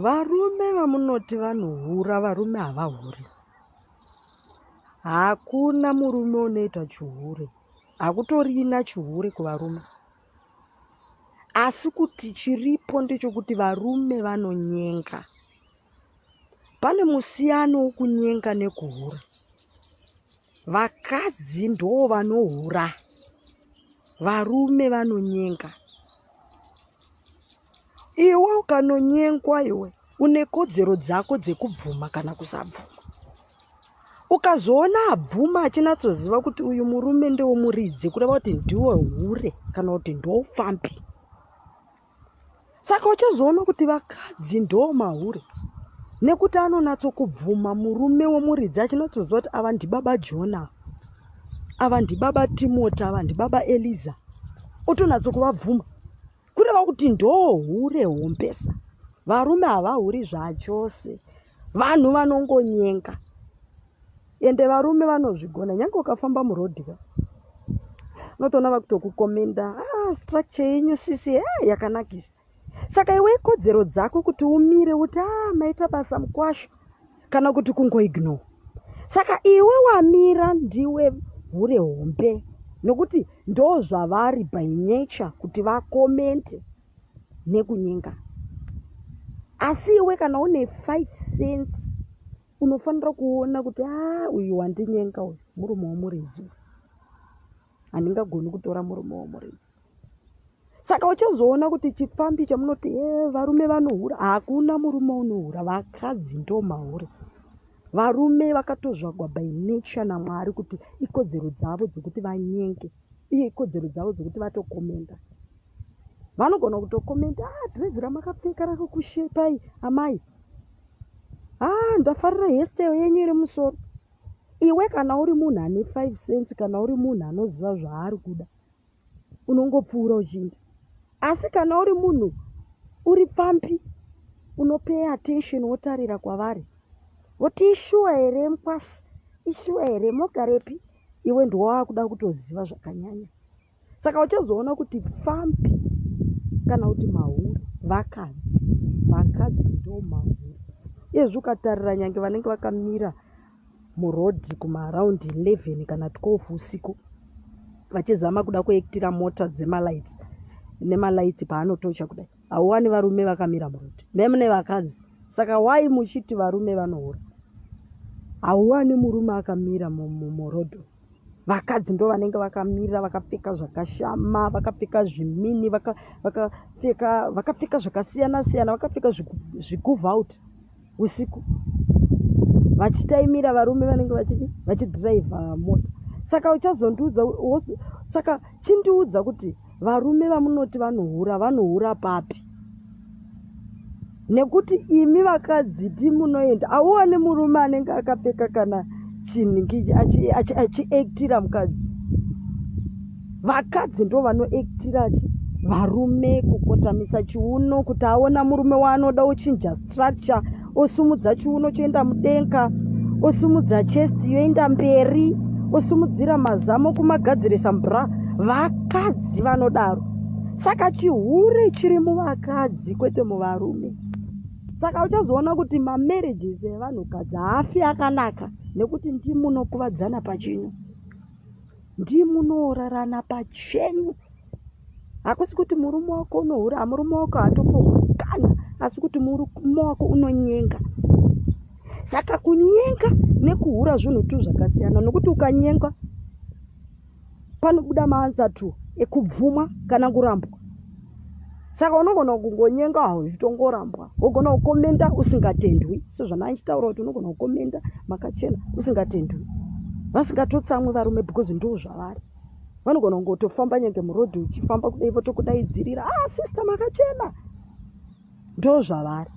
Varume vamunoti vanohura varume havahuri. Hakuna murume unoita chihure. Hakutorina chihure kuvarume. Asi kuti chiripo ndechokuti varume vanonyenga. Pane musiyano wokunyenga nekuhura. Vakadzi ndoo vanohura, varume vanonyenga. Iwe ukanonyengwa iwe une kodzero dzako dzekubvuma kana kusabvuma. Ukazoona abvuma achinatsoziva kuti uyu murume ndewomuridzi kureva kuti ndiwe hure kana kuti ndowopfambi. Saka uchazoona kuti vakadzi ndoo mahure nekuti anonatso kubvuma murume womuridzi achinatsoziva kuti ava ndibaba jona ava ndibaba timoti ava ndibaba eliza otonatso kuvabvuma kureva kuti ndoo hure hombesa varume havahuri zvachose vanhu vanongonyenga Ende varume vanozvigona nyange ukafamba muroad ka unotoona vakutokukomenda ah, structure yenyu sisi hey, eh, yakanakisa saka iwe ikodzero dzako kuti umire uti ah, maita basa mukwasho kana kuti kungoignore saka iwe wamira ndiwe hure hombe nokuti ndo zvavari by nature kuti vakomente nekunyenga asi iwe kana une five sense unofanira kuona kuti haa uyu wandinyenga uyu murume womuridzi handingagoni kutora murume womuridzi saka uchazoona kuti chipfambi chamunoti e varume vanohura hakuna murume unohura vakadzi ndomahure varume vakatozvagwa by nature namwari kuti ikodzero dzavo dzekuti vanyenge uye ikodzero dzavo dzekuti vatokomenda vanogona kutokomenda ah, dhirezi ramakapfeka rakukushepai amai haa ndafarira hestyle yenyu iri musoro iwe kana uri munhu ane five cents kana uri munhu anoziva zvaari kuda unongopfuura uchiinda asi kana uri munhu uri pfampi unopay attention wotarira kwavari voti ishuwa here mkwasha ishuwa here mogarepi iwe ndiwo wakuda kutoziva zvakanyanya saka uchazoona kuti pfambi kana kuti mahuri vakadzi vakadzi ndo mahuri izvi ukatarira nyange vanenge vakamira murodhi kumaaraundi 11 kana 12 usiku vachizama kuda kuektira mota dzemalights nemalights paanotocha kudai hauwani varume vakamira murodhi memune vakadzi saka wai muchiti varume vanohura hauwani murume akamira murodhi mu, mu, vakadzi ndo vanenge vakamira vakapfeka zvakashama vakapfeka zvimini vakapfeka vaka zvakasiyana siyana vakapfeka zvikuvout usiku vachitaimira varume vanenge vachii vachidriver mota saka uchazondiudza saka chindiudza kuti Varume vamunoti vanohura vanohura papi? Nekuti imi vakadzi ti munoenda auone murume anenge akapfeka kana chinhu achiaktira mukadzi. Vakadzi ndo vanoaktira varume kukotamisa chiuno kuti aona murume waanoda ochinja structure osumudza chiuno choenda mudenga osumudza chest yoenda mberi osumudzira mazamo kumagadzirisa mbra vakadzi vanodaro saka chihure chiri muvakadzi kwete muvarume saka uchazoona kuti mamarriages evanhukadzi haafi akanaka nekuti ndimunokuvadzana pachenyu ndimunoorarana pachenyu hakusi kuti murume wako unohura murume wako hatopohuri kana asi kuti murume wako unonyenga saka kunyenga nekuhura zvinhu tu zvakasiyana nokuti ukanyenga panobuda maansa tu ekubvumwa kana kurambwa saka unogona kungonyenga uchitongorambwa wogona kukomenda usingatendwi sezvanaachitaura kuti unogona kukomenda makachena usingatendwi vasingatotsamwi varume because ndoo zvavari vanogona kungotofamba nyange murodhi uchifamba kudai votokudaidzirira a ah, sista makachena ndo zvavari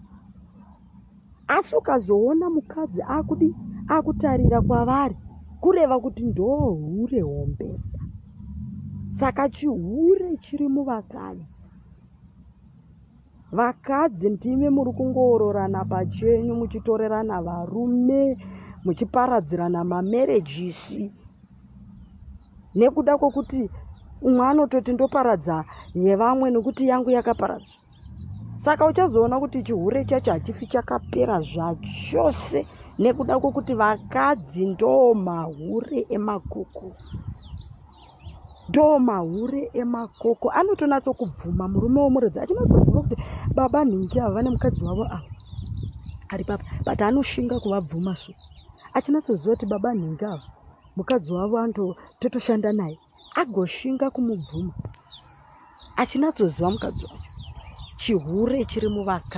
asi ukazoona mukadzi akudi akutarira kwavari kureva kuti ndohure hombesa saka chihure chiri muvakadzi Vakadzi ndimi muri kungoororana pachenyu muchitorerana varume muchiparadzirana mamerejisi nekuda kwokuti umwe anototi ndoparadza yevamwe nekuti yangu yakaparadza saka uchazoona kuti chihure chacho hachifi chakapera zvachose nekuda kwokuti vakadzi ndoomahure emakuku ndoo mahure emakoko anotonatso kubvuma murume womuredzi achinozoziva kuti baba nhingi ava vane mukadzi wavo ava ari papa but anoshinga kuvabvuma so achinatsoziva kuti baba nhingi ava mukadzi wavo anototoshanda naye agoshinga kumubvuma achinatsoziva mukadzi wacho chihure chiri muvakadzi